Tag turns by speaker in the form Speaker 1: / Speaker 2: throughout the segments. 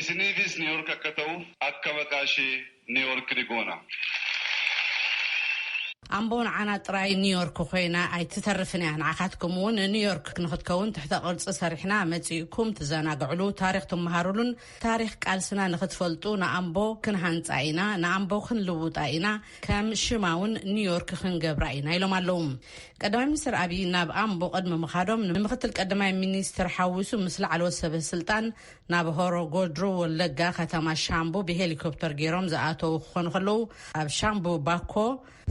Speaker 1: Isiniifis New York akka ta'u akka maqaa ishee New York ni goona.
Speaker 2: ኣምቦ ንዓና ጥራይ ኒው ዮርክ ኮይና ኣይትተርፍን እያ ንዓካትኩም እውን ኒው ዮርክ ንክትከውን ትሕተ ቅርፂ ሰሪሕና መፂእኩም ትዘናግዕሉ ታሪክ ትመሃሩሉን ታሪክ ቃልስና ንክትፈልጡ ንኣምቦ ክንሃንፃ ኢና ንኣምቦ ክንልውጣ ኢና ከም ሽማ እውን ኒው ዮርክ ክንገብራ ኢና ኢሎም ኣለዉ ቀዳማይ ሚኒስትር ኣብይ ናብ ኣምቦ ቅድሚ ምካዶም ንምክትል ቀዳማይ ሚኒስትር ሓዊሱ ምስ ላዕለዎት ሰበ ስልጣን ናብ ሆሮ ጎድሩ ወለጋ ከተማ ሻምቡ ብሄሊኮፕተር ገይሮም ዝኣተዉ ክኾኑ ከለዉ ኣብ ሻምቡ ባኮ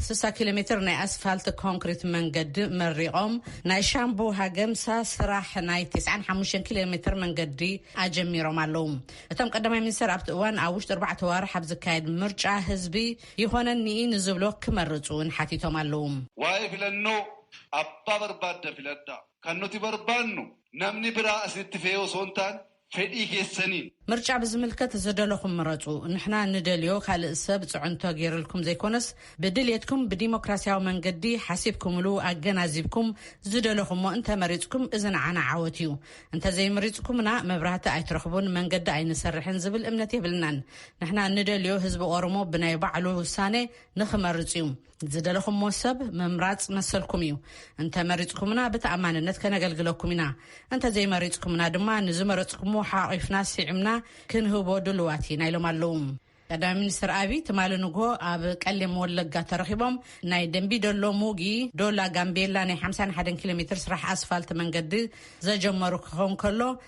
Speaker 2: ስሳ ኪሎ ሜትር ናይ ኣስፋልት ኮንክሪት መንገዲ መሪቖም ናይ ሻምቡ ሃገምሳ ስራሕ ናይ ቴስዓን ሓሙሽተን ኪሎ ሜትር መንገዲ ኣጀሚሮም ኣለዉ። እቶም ቀዳማይ ሚኒስተር ኣብቲ እዋን ኣብ ውሽጢ ኣርባዕተ ኣዋርሕ ኣብ ዝካየድ ምርጫ ህዝቢ ይኾነኒ ኢዩ ንዝብሎ ክመርጹ እውን ሓቲቶም ኣለዉ። ዋይ ፊለኖ
Speaker 1: ኣባ በርባደ ፊለዳ። Kan nuti barbaannu namni biraa isinitti fe'ee osoo hin taane fedhii keessaniin. ምርጫ ብዝምልከት
Speaker 2: ዝደለኹም ምረጹ ንሕና ንደልዮ ካልእ ሰብ ጽዕንቶ ጌርልኩም ዘይኮነስ ብድልየትኩም ብዲሞክራሲያዊ መንገዲ ሓሲብኩምሉ ኣገናዚብኩም ዝደለኹሞ እንተ መሪጽኩም እዚ ንዓና ዓወት እዩ እንተ ዘይምሪጽኩምና መብራህቲ ኣይትረኽቡን መንገዲ ኣይንሰርሕን ዝብል እምነት የብልናን ንሕና ንደልዮ ህዝቢ ኦሮሞ ብናይ ባዕሉ ውሳነ ንኽመርጽ እዩ ዝደለኹሞ ሰብ ምምራፅ መሰልኩም እዩ። እንተ መሪፅኩምና ብተኣማንነት ከነገልግለኩም ኢና። እንተ ዘይመሪፅኩምና ድማ ንዝመረፅኩምዎ ሓቒፍና ስዒምና ክንህቦ ድሉዋት ኢና ኢሎም ኣለዉ። ቀዳማይ ሚኒስትር ኣብይ ትማሊ ንግሆ ኣብ ቀሌም ወለጋ ተረኺቦም ናይ ደንቢ ደሎ ሙጊ ዶላ ጋምቤላ ናይ ሓምሳን ሓደን ኪሎ ሜትር ስራሕ ኣስፋልት መንገዲ ዘጀመሩ ክኸውን ከሎ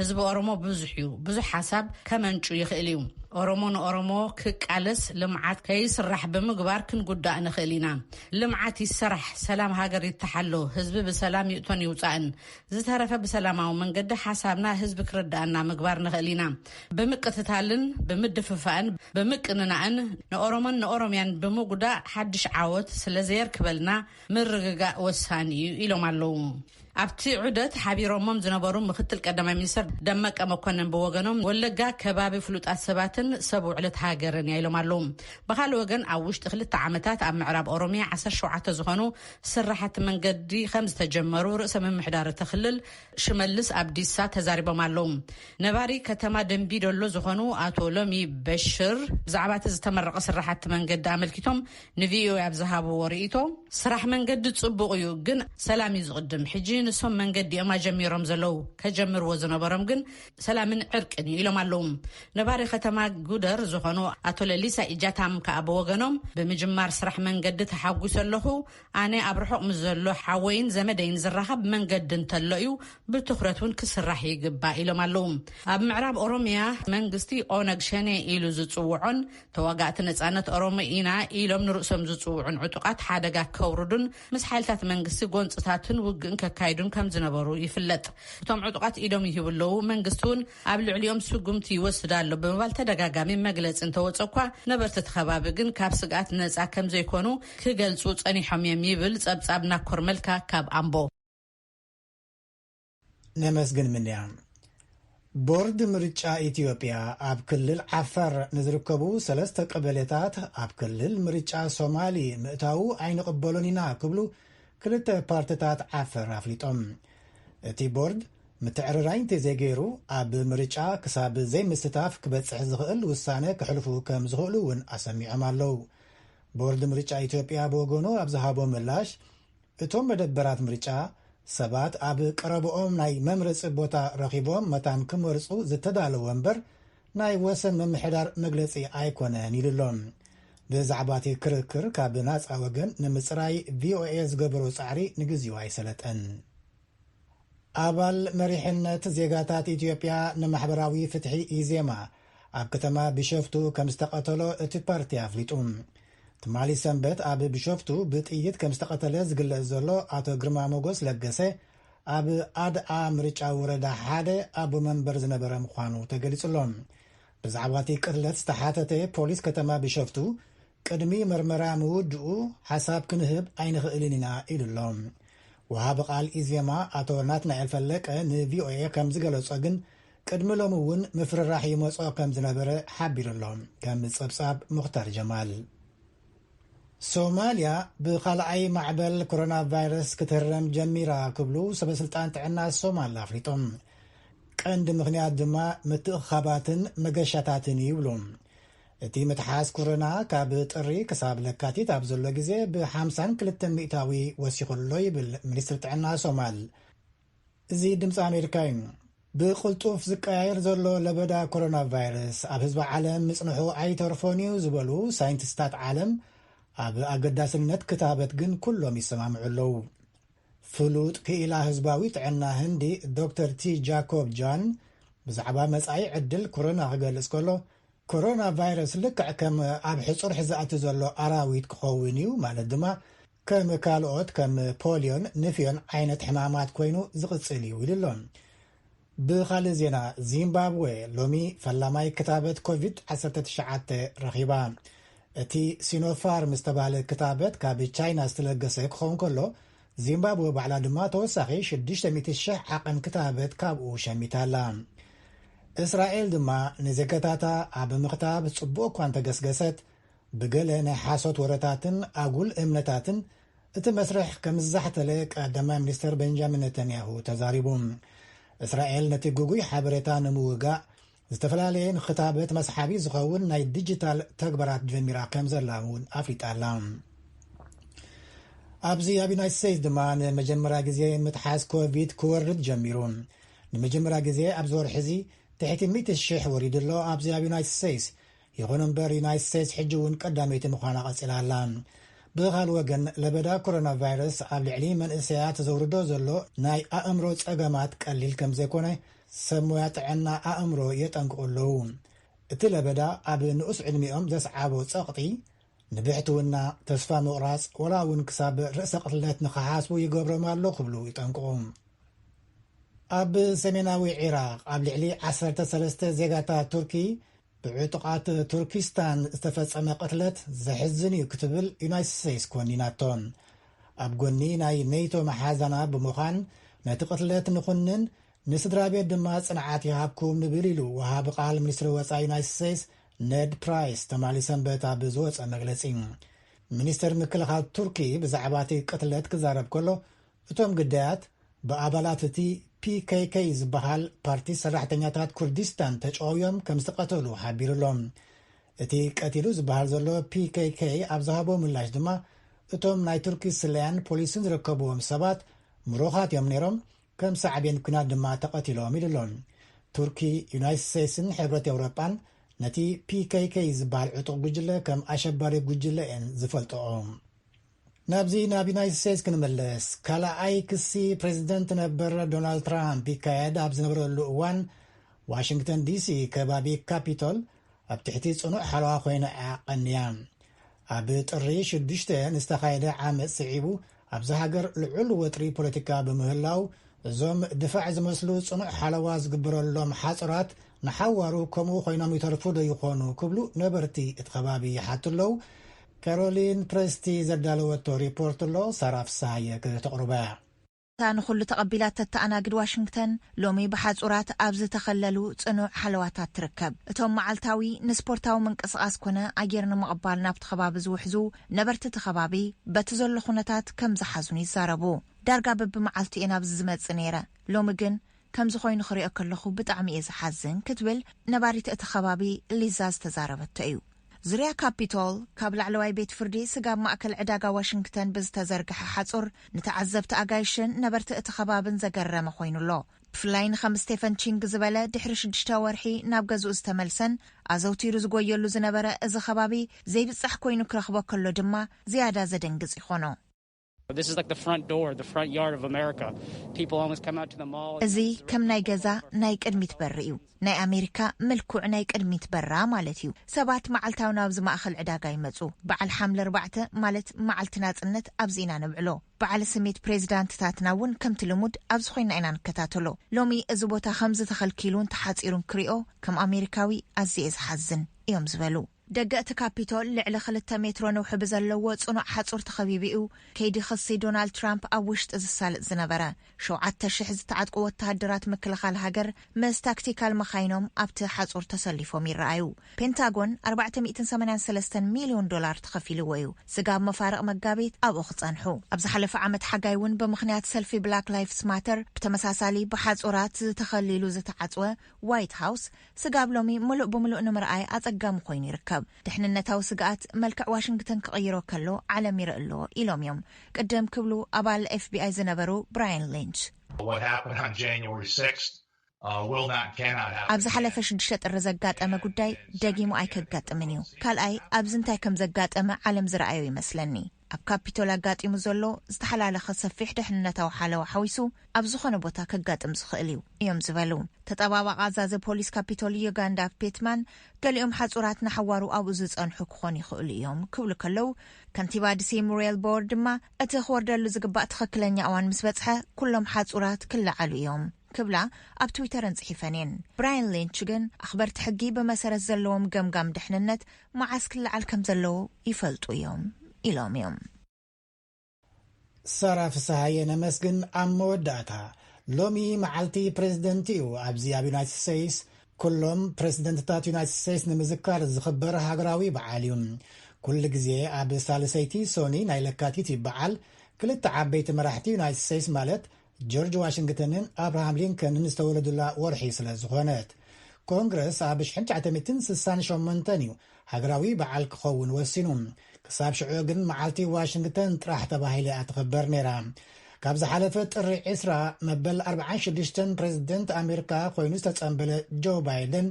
Speaker 2: ህዝቢ ኦሮሞ ብዙሕ እዩ ብዙሕ ሓሳብ ከመንጩ ይኽእል እዩ ኦሮሞ ንኦሮሞ ክቃለስ ልምዓት ከይስራሕ ብምግባር ክንጉዳእ ንኽእል ኢና ልምዓት ይሰራሕ ሰላም ሃገር ይተሓሎ ህዝቢ ብሰላም ይእቶን ይውፃእን ዝተረፈ ብሰላማዊ መንገዲ ሓሳብና ህዝቢ ክርዳእና ምግባር ንኽእል ኢና ብምቅትታልን ብምድፍፋእን ብምቅንናእን ንኦሮሞን ንኦሮምያን ብምጉዳእ ሓድሽ ዓወት ስለዘየርክበልና ምርግጋእ ወሳኒ እዩ ኢሎም ኣለዉ ኣብቲ ዑደት ሓቢሮሞም ዝነበሩ ምክትል ቀዳማይ ሚኒስትር ደመቀ መኮንን ብወገኖም ወለጋ ከባቢ ፍሉጣት ሰባትን ሰብ ውዕለት ሃገርን እያ ኢሎም ኣለዉ። ብካልእ ወገን ኣብ ውሽጢ ክልተ ዓመታት ኣብ ምዕራብ ኦሮሚያ ዓሰርተ ሸውዓተ ዝኾኑ ስራሕቲ መንገዲ ከም ዝተጀመሩ ርእሰ ምምሕዳር እቲ ክልል ሽመልስ ኣብዲሳ ተዛሪቦም ኣለዉ። ነባሪ ከተማ ደንቢ ዶሎ ዝኾኑ ኣቶ ሎሚ በሽር ብዛዕባ እቲ ዝተመረቐ ስራሕቲ መንገዲ ኣመልኪቶም ንቪኦኤ ኣብ ዝሃብዎ ርእይቶ፣ ስራሕ መንገዲ ፅቡቕ እዩ ግን ሰላም እዩ ዝቕድም፣ ሕጂ ንሶም መንገዲ እዮም ኣጀሚሮም ዘለዉ፣ ከጀምርዎ ዝነበሮም ግን ሰላምን ዕርቅን እዩ ኢሎም ኣለዉ። ነባሪ ከተማ ጉደር ዝኾኑ ኣቶ ለሊሳ ኢጃታም ከኣ ብወገኖም፣ ብምጅማር ስራሕ መንገዲ ተሓጒሰ ኣለኹ፣ ኣነ ኣብ ርሑቕ ምስ ዘሎ ሓወይን ዘመደይን ዝራኸብ መንገዲ እንተሎ እዩ፣ ብትኹረት እውን ክስራሕ ይግባእ ኢሎም ኣለዉ። ኣብ ምዕራብ ኦሮሚያ መንግስቲ ኦነግ ሸኔ ኢሉ ዝፅውዖን ተዋጋእቲ ነጻነት ኦሮሞ ኢና ኢሎም ንርእሶም ዝጽውዑን ዕጡቓት ሓደጋ ከውርዱን ምስ ሓይልታት መንግስቲ ጎንፅታትን ውግእን ከካይዱን ከም ዝነበሩ ይፍለጥ። እቶም ዕጡቓት ኢዶም ይህቡ ኣለዉ፣ መንግስቲ እውን ኣብ ልዕሊኦም ስጉምቲ ይወስድ ኣሎ ብምባል ተደጋጋሚ መግለፂ እንተወፀ እኳ ነበርቲ እቲ ከባቢ ግን ካብ ስግኣት ነፃ ከም ዘይኮኑ ክገልፁ ፀኒሖም እዮም ይብል ፀብፃብ ናኮር መልካ ካብ ኣምቦ።
Speaker 3: ነመስግን ምንያ። ቦርድ ምርጫ ኢትዮጵያ ኣብ ክልል ዓፋር ንዝርከቡ ሰለስተ ቀበሌታት ኣብ ክልል ምርጫ ሶማሊ ምእታዉ ኣይንቕበሎን ኢና ክብሉ ክልተ ፓርትታት ዓፈር ኣፍሊጦም። እቲ ቦርድ ምትዕርራይ እንተዘይገይሩ ኣብ ምርጫ ክሳብ ዘይምስታፍ ክበፅሕ ዝኽእል ውሳነ ክሕልፉ ከም ዝኽእሉ እውን ኣሰሚዖም ኣለዉ። ቦርድ ምርጫ ኢትዮጵያ ብወገኑ ኣብ ዝሃቦ ምላሽ እቶም መደበራት ምርጫ፣ ሰባት ኣብ ቀረበኦም ናይ መምረጺ ቦታ ረኺቦም መታን ክመርጹ ዝተዳለወ እምበር ናይ ወሰን ምምሕዳር መግለጺ ኣይኮነን ኢሉ ኣሎ። ብዛዕባ'ቲ ክርክር ካብ ናጻ ወገን ንምጽራይ ቪኦኤ ዝገበሮ ጻዕሪ ንግዚኡ ኣይሰለጠን። ኣባል መሪሕነት ዜጋታት ኢትዮጵያ ንማሕበራዊ ፍትሒ ኢዜማ ኣብ ከተማ ቢሸፍቱ ከምዝተቐተሎ እቲ ፓርቲ ኣፍሊጡ። ትማሊ ሰንበት ኣብ ቢሾፍቱ ብጥይት ከምዝተቐተለ ዝግለጽ ዘሎ ኣቶ ግርማ ሞጎስ ለገሰ ኣብ ኣድኣ ምርጫ ወረዳ ሓደ ኣቦ መንበር ዝነበረ ምዃኑ ተገሊጹ ኣሎ። ብዛዕባ እቲ ቅትለት ዝተሓተተ ፖሊስ ከተማ ቢሸፍቱ ቅድሚ መርመራ ምውድኡ ሓሳብ ክንህብ ኣይንኽእልን ኢና ኢሉ ኣሎ። ወሃቢ ቃል ኢዜማ ኣቶ ናትናኤል ፈለቀ ንቪኦኤ ከም ዝገለፆ ግን ቅድሚ ሎሚ እውን ምፍርራሕ ይመፆ ከም ዝነበረ ሓቢሩ ኣሎ። ከም ፀብፃብ ሙኽታር ጀማል። ሶማልያ ብኻልኣይ ማዕበል ኮሮናቫይረስ ክትህረም ጀሚራ ክብሉ ሰበስልጣን ጥዕና ሶማል ኣፍሊጦም። ቀንዲ ምኽንያት ድማ ምትእኽኻባትን መገሻታትን እዩ ይብሉ። እቲ ምትሓዝ ኮረና ካብ ጥሪ ክሳብ ለካቲት ኣብ ዘሎ ግዜ ብ ሓምሳን ክልተን ሚእታዊ ወሲኹ ኣሎ ይብል ሚኒስትሪ ጥዕና ሶማል። እዚ ድምጺ ኣሜሪካ እዩ። ብቕልጡፍ ዝቀያየር ዘሎ ለበዳ ኮሮና ቫይረስ ኣብ ህዝቢ ዓለም ምጽንሑ ኣይተርፎን እዩ ዝበሉ ሳይንቲስታት ዓለም፣ ኣብ ኣገዳስነት ክታበት ግን ኩሎም ይሰማምዑ ኣለዉ። ፍሉጥ ክኢላ ህዝባዊ ጥዕና ህንዲ ዶክተር ቲ ጃኮብ ጃን ብዛዕባ መጻኢ ዕድል ኮሮና ክገልጽ ከሎ፣ ኮሮና ቫይረስ ልክዕ ከም ኣብ ሕጹርሕ ዝኣቲ ዘሎ ኣራዊት ክኸውን እዩ፣ ማለት ድማ ከም ካልኦት ከም ፖልዮን ንፍዮን ዓይነት ሕማማት ኮይኑ ዝቕጽል እዩ ኢሉ ኣሎ። ብኻልእ ዜና ዚምባብወ ሎሚ ፈላማይ ክታበት ኮቪድ ዓሰርተ ትሽዓተ ረኺባ። እቲ ሲኖፋርም ዝተባህለ ክታበት ካብ ቻይና ዝተለገሰ ክኸውን ከሎ፣ ዚምባብወ ባዕላ ድማ ተወሳኺ ሽዱሽተ ሚእቲ ሽሕ ዓቐን ክታበት ካብኡ ሸሚታ ኣላ። እስራኤል ድማ ንዜጋታታ ኣብ ምኽታብ ጽቡቕ እኳ እንተገስገሰት፣ ብገለ ናይ ሓሶት ወረታትን ኣጉል እምነታትን እቲ መስርሕ ከምዝዛሕተለ ቀዳማይ ሚኒስተር በንጃሚን ነተንያሁ ተዛሪቡ። እስራኤል ነቲ ግጉይ ሓበሬታ ንምውጋእ ዝተፈላለየ ንክታበት መስሓቢ ዝኸውን ናይ ዲጂታል ተግባራት ጀሚራ ከምዘላ እውን ኣፍሊጣ ኣላ። ኣብዚ ኣብ ዩናይትድ ስቴትስ ድማ ንመጀመርያ ግዜ ምትሓዝ ኮቪድ ክወርድ ጀሚሩ። ንመጀመርያ ግዜ ኣብዚ ወርሒ እዚ ትሕቲ ሚእቲ ሽሕ ወሪዱ ኣሎ። ኣብዚ ኣብ ዩናይትድ ስቴትስ ይኹን እምበር ዩናይት ስቴትስ ሕጂ እውን ቀዳመይቲ ምዃና ቀጺላ ኣላ። ብኻልእ ወገን ለበዳ ኮሮናቫይረስ ኣብ ልዕሊ መንእሰያት ዘውርዶ ዘሎ ናይ ኣእምሮ ጸገማት ቀሊል ከም ዘይኮነ ሰብ ሞያ ጥዕና ኣእምሮ የጠንቅቑ ኣለዉ። እቲ ለበዳ ኣብ ንኡስ ዕድሚኦም ዘስዓቦ ጸቕጢ ንብሕትውና፣ ተስፋ ምቑራጽ፣ ዋላ እውን ክሳብ ርእሰ ቅትለት ንኽሓስቡ ይገብሮም ኣሎ ክብሉ ይጠንቅቑ። ኣብ ሰሜናዊ ዒራቕ ኣብ ልዕሊ ዓሰርተ ሰለስተ ዜጋታት ቱርኪ ብዕጡቓት ቱርኪስታን ዝተፈጸመ ቅትለት ዘሕዝን እዩ ክትብል ዩናይትድ ስቴትስ ኮኒናቶ። ኣብ ጎኒ ናይ ኔቶ መሓዛና ብምዃን ነቲ ቅትለት ንኹንን፣ ንስድራቤት ድማ ጽንዓት ይሃብኩም ንብል ኢሉ ወሃቢ ቃል ሚኒስትሪ ወጻኢ ዩናይትድ ስቴትስ ነድ ፕራይስ ትማሊ ሰንበት ኣብ ዝወጸ መግለጺ። ሚኒስተር ምክልኻል ቱርኪ ብዛዕባ እቲ ቅትለት ክዛረብ ከሎ፣ እቶም ግዳያት ብኣባላት እቲ PKK ዝበሃል ፓርቲ ሰራሕተኛታት ኩርዲስታን ተጨውዮም ከምዝተቐተሉ ሓቢሩ'ሎ። እቲ ቀቲሉ ዝበሃል ዘሎ PKK ኣብ ዝሃቦ ምላሽ ድማ እቶም ናይ ቱርኪ ስለያን ፖሊስን ዝርከብዎም ሰባት ምሩኻት እዮም ነይሮም፣ ከም ሳዕቤን ኲናት ድማ ተቐቲሎም ኢሉ'ሎ። ቱርኪ፣ ዩናይትድ ስቴትስን ሕብረት ኤውሮጳን ነቲ PKK ዝበሃል ዕጡቕ ጉጅለ ከም ኣሸባሪ ጉጅለ እየን ዝፈልጠኦ። ናብዚ ናብ ዩናይትድ ስቴትስ ክንምለስ፣ ካልኣይ ክሲ ፕረዚደንት ነበር ዶናልድ ትራምፕ ይካየድ ኣብ ዝነበረሉ እዋን፣ ዋሽንግተን ዲሲ ከባቢ ካፒቶል ኣብ ትሕቲ ጽኑዕ ሓለዋ ኮይና'ያ ቀንያ። ኣብ ጥሪ ሽዱሽተ ንዝተኻየደ ዓመጽ ስዒቡ ኣብዛ ሃገር ልዑል ወጥሪ ፖለቲካ ብምህላው፣ እዞም ድፋዕ ዝመስሉ ጽኑዕ ሓለዋ ዝግበረሎም ሓጹራት ንሓዋሩ ከምኡ ኮይኖም ይተርፉ'ዶ ይኾኑ ክብሉ ነበርቲ እቲ ከባቢ ይሓቱ ኣለዉ። ካሮሊን ፕረስቲ ዘዳለወቶ ሪፖርት ኣሎ፣ ሳራ ፍስሃየ ክተቕርቦ እያ። እታ ንኹሉ
Speaker 4: ተቐቢላ እተተኣናግድ ዋሽንግተን፣ ሎሚ ብሓጹራት ኣብ ዝተኸለሉ ጽኑዕ ሓለዋታት ትርከብ። እቶም መዓልታዊ ንስፖርታዊ ምንቅስቓስ ኰነ ኣየር ንምቕባል ናብቲ ከባቢ ዝውሕዙ ነበርቲ እቲ ከባቢ፣ በቲ ዘሎ ዅነታት ከም ዝሓዙን ይዛረቡ። ዳርጋ በብመዓልቱ እየ ናብዚ ዝመጽእ ነይረ፣ ሎሚ ግን ከምዚ ኮይኑ ክሪኦ ከለኹ ብጣዕሚ እየ ዝሓዝን ክትብል ነባሪት እቲ ከባቢ ሊዛ ዝተዛረበቶ እዩ። ዙርያ ካፒቶል፣ ካብ ላዕለዋይ ቤት ፍርዲ ስጋብ ማእከል ዕዳጋ ዋሽንግተን ብዝተዘርግሐ ሓጹር ንተዓዘብቲ ኣጋይሽን ነበርቲ እቲ ከባብን ዘገረመ ኮይኑ ኣሎ። ብፍላይ ንከም ስቴፈን ቺንግ ዝበለ ድሕሪ ሽዱሽተ ወርሒ ናብ ገዝኡ ዝተመልሰን ኣዘውቲሩ ዝጎየሉ ዝነበረ እዚ ከባቢ ዘይብጻሕ ኮይኑ ክረኽቦ ከሎ ድማ ዝያዳ ዘደንግጽ ይኾኖ።
Speaker 5: እዚ ከም ናይ ገዛ
Speaker 4: ናይ ቅድሚት በሪ እዩ፣ ናይ ኣሜሪካ ምልኩዕ ናይ ቅድሚት በራ ማለት እዩ። ሰባት መዓልታዊ ናብዚ ማእከል ዕዳጋ ይመጹ። በዓል ሓምለ ኣርባዕተ ማለት መዓልቲ ናጽነት ኣብዚ ኢና ነብዕሎ። በዓል ስሜት ፕሬዚዳንትታትና እውን ከምቲ ልሙድ ኣብዚ ኮይና ኢና ንከታተሎ። ሎሚ እዚ ቦታ ከምዚ ተኸልኪሉን ተሓጺሩን ክሪኦ ከም ኣሜሪካዊ ኣዝየ እየ ዝሓዝን እዮም ዝበሉ። ደገ እቲ ካፒቶል ልዕሊ ክልተ ሜትሮ ነውሒ ብዘለዎ ጽኑዕ ሓጹር ተኸቢቡ እዩ ከይዲ ክሲ ዶናልድ ትራምፕ ኣብ ውሽጢ ዝሳለጥ ዝነበረ። ሸውዓተ ሽሕ ዝተዓጥቁ ወተሃደራት ምክልኻል ሃገር ምስ ታክቲካል መካይኖም ኣብቲ ሓጹር ተሰሊፎም ይረኣዩ። ፔንታጎን ኣርባዕተ ሚእትን ሰማንያን ሰለስተን ሚልዮን ዶላር ተኸፊልዎ እዩ ስጋብ መፋርቕ መጋቢት ኣብኡ ክጸንሑ። ኣብ ዝሓለፈ ዓመት ሓጋይ እውን ብምኽንያት ሰልፊ ብላክ ላይፍስ ማተር ብተመሳሳሊ ብሓጹራት ተኸሊሉ ዝተዓጽወ ዋይት ሃውስ ስጋብ ሎሚ ምሉእ ብምሉእ ንምርኣይ ኣጸጋሚ ኮይኑ ይርከብ። ድሕንነታዊ ስግኣት መልክዕ ዋሽንግተን ክቕይሮ ከሎ ዓለም ይርኢ ኣሎ ኢሎም እዮም ቅድም ክብሉ ኣባል ኤፍቢኣይ ዝነበሩ ብራየን ሊንች።
Speaker 6: ኣብ ዝሓለፈ ሽዱሽተ ጥሪ
Speaker 4: ዘጋጠመ ጉዳይ ደጊሙ ኣይከጋጥምን እዩ። ካልኣይ ኣብዚ እንታይ ከም ዘጋጠመ ዓለም ዝረኣዮ ይመስለኒ። ኣብ ካፒቶል ኣጋጢሙ ዘሎ ዝተሓላለኸ ሰፊሕ ደሕንነታዊ ሓለዋ ሓዊሱ ኣብ ዝኾነ ቦታ ከጋጥም ዝኽእል እዩ እዮም ዝበሉ ተጠባባቒ ኣዛዚ ፖሊስ ካፒቶል ዩጋንዳ ፔትማን ገሊኦም ሓፁራት ንሓዋሩ ኣብኡ ዝፀንሑ ክኾኑ ይኽእሉ እዮም ክብሉ ከለው ከንቲባ ድሲ ሙሪየል ቦወር ድማ እቲ ክወርደሉ ዝግባእ ትኽክለኛ እዋን ምስ በፅሐ ኩሎም ሓፁራት ክለዓሉ እዮም ክብላ ኣብ ትዊተረን ጽሒፈን እየን። ብራያን ሊንች ግን ኣኽበርቲ ሕጊ ብመሰረት ዘለዎም ገምጋም ድሕንነት መዓስ ክለዓል ከም ዘለዎ ይፈልጡ እዮም ኢሎም እዮም።
Speaker 3: ሳራ ፍስሃየ ነመስግን ኣብ መወዳእታ ሎሚ መዓልቲ ፕረዚደንት እዩ ኣብዚ ኣብ ዩናይትድ ስቴይስ ኩሎም ፕረሲደንትታት ዩናይትድ ስቴይስ ንምዝካር ዝኽበር ሃገራዊ በዓል እዩ ኩሉ ግዜ ኣብ ሳልሰይቲ ሶኒ ናይ ለካቲት ይበዓል ክልተ ዓበይቲ መራሕቲ ዩናይትድ ስቴይስ ማለት ጆርጅ ዋሽንግተንን ኣብርሃም ሊንከንን ዝተወለዱላ ወርሒ ስለ ዝኾነት። ኮንግረስ ኣብ ሽሕን ትሸዓተሚትን ስሳን ሸሞንተን እዩ ሃገራዊ በዓል ክኸውን ወሲኑ። ክሳብ ሽዑ ግን መዓልቲ ዋሽንግተን ጥራሕ ተባሂለ እያ ትኽበር ነይራ። ካብ ዝሓለፈ ጥሪ ዕስራ መበል ኣርብዓን ሽዱሽተን ፕረዚደንት ኣሜሪካ ኮይኑ ዝተጸምበለ ጆ ባይደን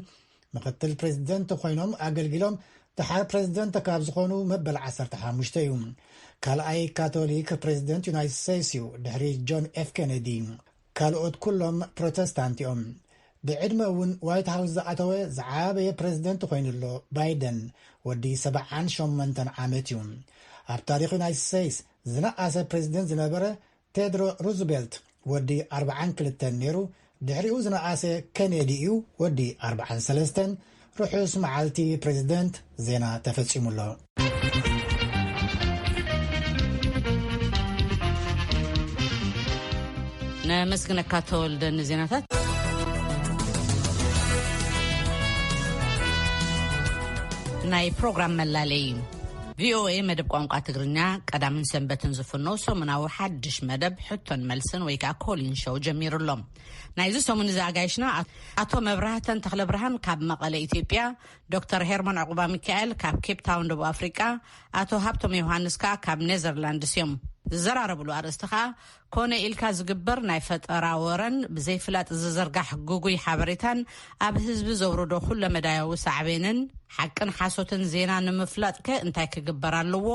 Speaker 3: ምክትል ፕሬዚደንት ኮይኖም ኣገልጊሎም ድሓር ፕሬዚደንት ካብ ዝኾኑ መበል 15 እዩ ካልኣይ ካቶሊክ ፕሬዚደንት ዩናይትድ ስቴትስ እዩ ድሕሪ ጆን ኤፍ ኬነዲ ካልኦት ኩሎም ፕሮተስታንት እዮም ብዕድመ እውን ዋይት ሃውስ ዝኣተወ ዝዓበየ ፕሬዚደንት ኮይኑ ኣሎ ባይደን ወዲ 78 ዓመት እዩ ኣብ ታሪክ ዩናይትድ ስቴትስ ዝነኣሰ ፕሬዚደንት ዝነበረ ቴድሮ ሩዝቤልት ወዲ ኣርብዓን ክልተን ነይሩ፣ ድሕሪኡ ዝነኣሰ ከኔዲ እዩ ወዲ ኣርብዓን ሰለስተን፣ ርሑስ መዓልቲ ፕሬዚደንት፣ ዜና ተፈፂሙ ኣሎ። ነመስግነካ
Speaker 2: ተወልደ ንዜናታት። ናይ ፕሮግራም መላለይ እዩ። ቪኦኤ መደብ ቋንቋ ትግርኛ ቀዳምን ሰንበትን ዝፍኖ ሰሙናዊ ሓድሽ መደብ ሕቶን መልስን ወይ ከዓ ኮሊን ሸው ጀሚሩ ኣሎ ናይዚ ሰሙን እዚ ኣጋይሽና ኣቶ መብራህተን ተክለ ብርሃን ካብ መቐለ ኢትዮጵያ ዶክተር ሄርሞን ዕቁባ ሚካኤል ካብ ኬፕታውን ደቡብ ኣፍሪቃ ኣቶ ሃብቶም ዮሃንስ ከዓ ካብ ኔዘርላንድስ እዮም ዝዘራረብሉ ኣርእስቲ ከዓ ኮነ ኢልካ ዝግበር ናይ ፈጠራ ወረን ብዘይፍላጥ ዝዝርጋሕ ግጉይ ሓበሬታን ኣብ ህዝቢ ዘውርዶ ኩለመዳያዊ ሳዕቤንን፣ ሓቅን ሓሶትን ዜና ንምፍላጥከ እንታይ ክግበር ኣለዎ?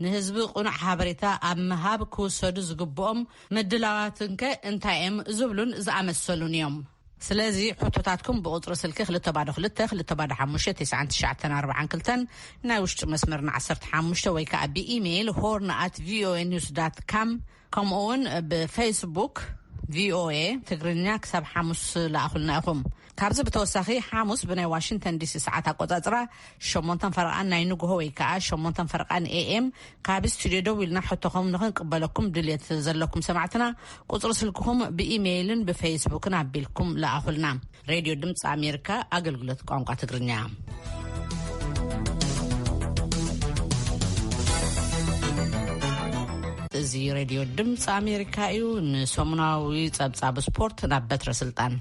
Speaker 2: ንህዝቢ ቅኑዕ ሓበሬታ ኣብ ምሃብ ክውሰዱ ዝግብኦም ምድላዋትንከ እንታይ'የም? ዝብሉን ዝኣመሰሉን እዮም። ስለዚ ሕቶታትኩም ብቁጽሪ ስልኪ ክልተ ባዶ ክልተ፣ ክልተ ባዶ ሓሙሽተ፣ ቴስዓን ትሽዓተን ኣርብዓን ክልተን ናይ ውሽጢ መስመርና ዓሰርተ ሓሙሽተ ወይ ከኣ ብኢሜይል ሆርን ኣት ቪኦኤ ኒውስ ዳት ካም ከምኡውን ብፌስቡክ ቪኦኤ ትግርኛ ክሳብ ሓሙስ ለኣኹልና ኢኹም። ካብዚ ብተወሳኺ ሓሙስ ብናይ ዋሽንተን ዲሲ ሰዓት ኣቆጻጽራ ሸሞንተን ፈርቓን ናይ ንግሆ ወይ ከኣ ሸሞንተን ፈርቓን ኤኤም ካብ ስቱድዮ ደዊልና ሕቶኹም ንኽንቅበለኩም ድልየት ስለ ዘለኩም ሰማዕትና ቁጽሪ ስልክኹም ብኢሜይልን ብፌስቡክን ኣቢልኩም ለኣኹልና። ሬድዮ ድምፂ ኣሜሪካ ኣገልግሎት ቋንቋ ትግርኛ እዚ ሬድዮ ድምፂ ኣሜሪካ እዩ። ንሰሙናዊ ጸብጻብ ስፖርት ናብ በትረ ስልጣን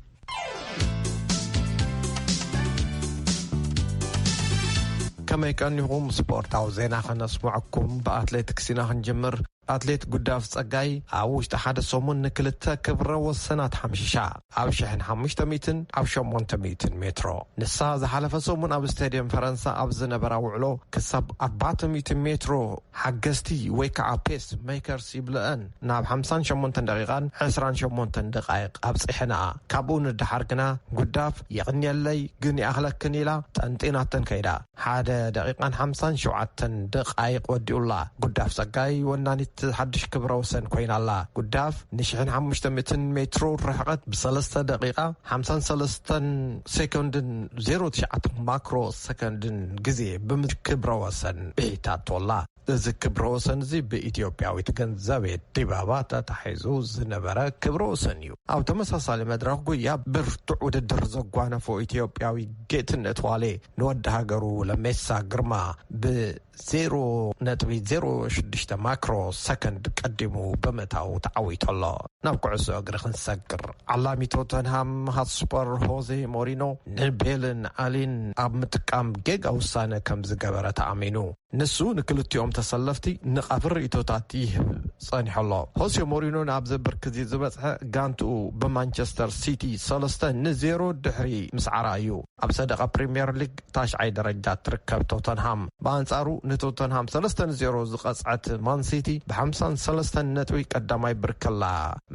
Speaker 7: ከመይ ቀኒኹም ስፖርታዊ ዜና ከነስምዐኩም ብኣትሌቲክስ ኢና ክንጅምር ኣትሌት ጉዳፍ ጸጋይ ኣብ ውሽጢ ሓደ ሰሙን ንክልተ ክብረ ወሰናት ሓምሽሻ ኣብ ሽሕን ሓሙሽተ ሚትን ኣብ ሸሞንተ ሚትን ሜትሮ ንሳ ዝሓለፈ ሰሙን ኣብ ስተድየም ፈረንሳ ኣብ ዝነበራ ውዕሎ ክሳብ ኣርባዕተ ሚእቲ ሜትሮ ሓገዝቲ ወይ ከኣ ፔስ መይከርስ ይብለኣን ናብ ሓምሳን ሸሞንተን ደቂቃን ዕስራን ሸሞንተን ደቃይቅ ኣብጺሐንኣ ካብኡ ንደሓር ግና ጉዳፍ የቅንየለይ ግን ይኣክለክን ኢላ ጠንጢናተን ከይዳ ሓደ ደቂቃን ሓምሳን ሸውዓተን ደቃይቅ ወዲኡላ ጉዳፍ ጸጋይ ወናኒት ሓድሽ ክብረ ወሰን ኮይና ኣላ ጉዳፍ ንሽሕን ሓሙሽተ ሚእትን ሜትሮ ርሕቀት ብሰለስተ ደቂቃ ሓምሳን ሰለስተን ሰኮንድን ዜሮ ትሽዓተ ማክሮ ሰከንድን ግዜ ብምዝ ክብረ ወሰን ቤታቶላ። እዚ ክብረ ወሰን እዚ ብኢትዮጵያዊት ገንዘቤት ዲባባ ተታሒዙ ዝነበረ ክብረ ወሰን እዩ። ኣብ ተመሳሳሊ መድረኽ ጉያ ብርቱዕ ውድድር ዘጓነፎ ኢትዮጵያዊ ጌትነት ዋሌ ንወዲ ሃገሩ ለሜሳ ግርማ ብ ዜሮ ነጥቢ ዜሮ ሽዱሽተ ማክሮ ሰከንድ ቀዲሙ ብምእታው ተዓዊቱ ኣሎ። ናብ ኩዕሶ እግሪ ክንሰግር። ዓላሚ ቶተንሃም ሃትስፐር ሆዜ ሞሪኖ ንቤልን ኣሊን ኣብ ምጥቃም ጌጋ ውሳነ ከምዝገበረ ተኣሚኑ። ንሱ ንክልቲኦም ተሰለፍቲ ንቃፊ ርእይቶታት ይህብ ጸኒሑ ኣሎ። ሆሴ ሞሪኖ ናብዚ ብርኪ'ዚ ዝበጽሐ ጋንትኡ ብማንቸስተር ሲቲ ሰለስተ ን ዜሮ ድሕሪ ምስዓራ እዩ። ኣብ ሰደቓ ፕሪምየር ሊግ ታሽዓይ ደረጃ እትርከብ ቶተንሃም ብኣንጻሩ ንቶተንሃም ሰለስተ ን ዜሮ ዝቐጽዐት ማን ሲቲ ብሓምሳን ሰለስተን ነጥቢ ቀዳማይ ብርኪ ኣላ።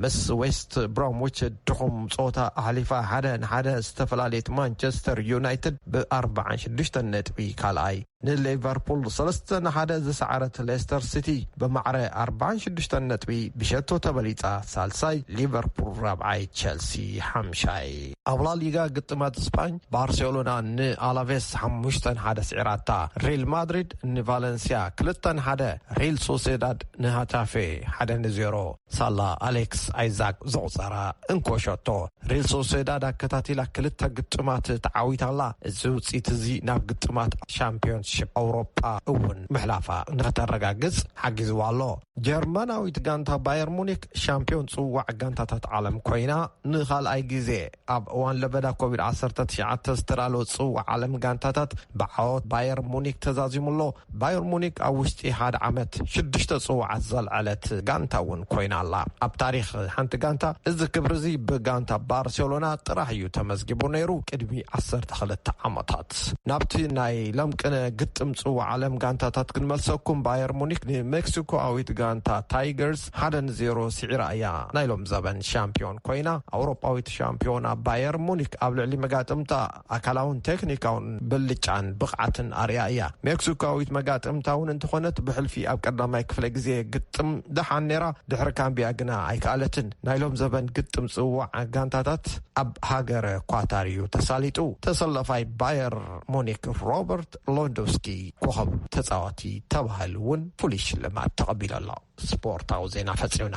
Speaker 7: ምስ ዌስት ብሮምዊች ድኹም ጸወታ ኣሕሊፋ ሓደ ን ሓደ ዝተፈላለየት ማንቸስተር ዩናይትድ ብኣርብዓን ሽዱሽተን ነጥቢ ካልኣይ፣ ንሊቨርፑል ሰለስተ ን ሓደ ዝሰዓረት ሌስተር ሲቲ ብማዕረ ኣርብዓን ሽዱሽተን ነጥቢ ብሸቶ ተበሊጻ ሳልሳይ፣ ሊቨርፑል ራብዓይ፣ ቸልሲ ሓምሻይ። ኣብ ላሊጋ ግጥማት ስጳኝ ባርሴሎና ን ኣላቬስ ሓሙሽተ ን ሓደ ስዒራታ፣ ሪል ማድሪድ ን ቫለንስያ ክልተ ን ሓደ፣ ሪል ሶሴዳድ ን ሃታፌ ሓደ ን ዜሮ፣ ሳላ ኣሌክስ ኣይዛክ ዘቑጸራ እንኮ ሸቶ ሪል ሶሴዳድ ኣከታቲላ ክልተ ግጥማት ተዓዊታ ኣላ። እዚ ውጽኢት እዚ ናብ ግጥማት ሻምፕዮንስሺፕ ኣውሮጳ እውን ምሕላፋ ንክተረጋግጽ ሓጊዝዋ ኣሎ። ጀርመናዊት ጋንታ ባየር ሙኒክ ሻምፕዮን ጽዋዕ ጋንታታት ዓለም ኮይና ንኻልኣይ ግዜ ኣብ እዋን ለበዳ ኮቪድ ዓሰርተ ትሽዓተ ዝተዳለወ ጽዋዕ ዓለም ጋንታታት ብዓወት ባየር ሙኒክ ተዛዚሙ ኣሎ። ባየር ሙኒክ ኣብ ውሽጢ ሓደ ዓመት ሽዱሽተ ጽዋዓት ዘልዐለት ጋንታ እውን ኮይና ኣላ። ኣብ ታሪኽ ሓንቲ ጋንታ እዚ ክብሪ እዚ ብጋንታ ባርሴሎና ጥራሕ እዩ ተመዝጊቡ ነይሩ ቅድሚ ዓሰርተ ክልተ ዓመታት። ናብቲ ናይ ለምቅነ ግጥም ጽዋዕ ዓለም ጋንታታት ክንመልሰኩም፣ ባየር ሙኒክ ንሜክሲኮኣዊት ጋንታ ታይገርስ ሓደ ን ዜሮ ስዒራ እያ ናይ ሎምዘበን ሻምፕዮን ኮይና። ኣውሮጳዊት ሻምፕዮና ባየር ሙኒክ ኣብ ልዕሊ መጋጥምታ፣ ኣካላውን ቴክኒካውን ብልጫን ብቕዓትን ኣርእያ እያ። ሜክሲኮዊት መጋጥምታ እውን እንተኾነት ብሕልፊ ኣብ ቀዳማይ ክፍለ ግዜ ግጥም ደሓን ነይራ፣ ድሕሪ ካምቢያ ግና ኣይከኣለትን። ናይ ሎም ዘበን ግጥም ፅዋዕ ጋንታታት ኣብ ሃገረ ኳታር እዩ ተሳሊጡ። ተሰላፋይ ባየር ሙኒክ ሮበርት ሎንዶውስኪ ኮኸብ ተፃዋቲ ተባሂሉ እውን ፍሉይ ሽልማት ተቐቢሉ ኣሎ። ስፖርታዊ ዜና ፈፂምና።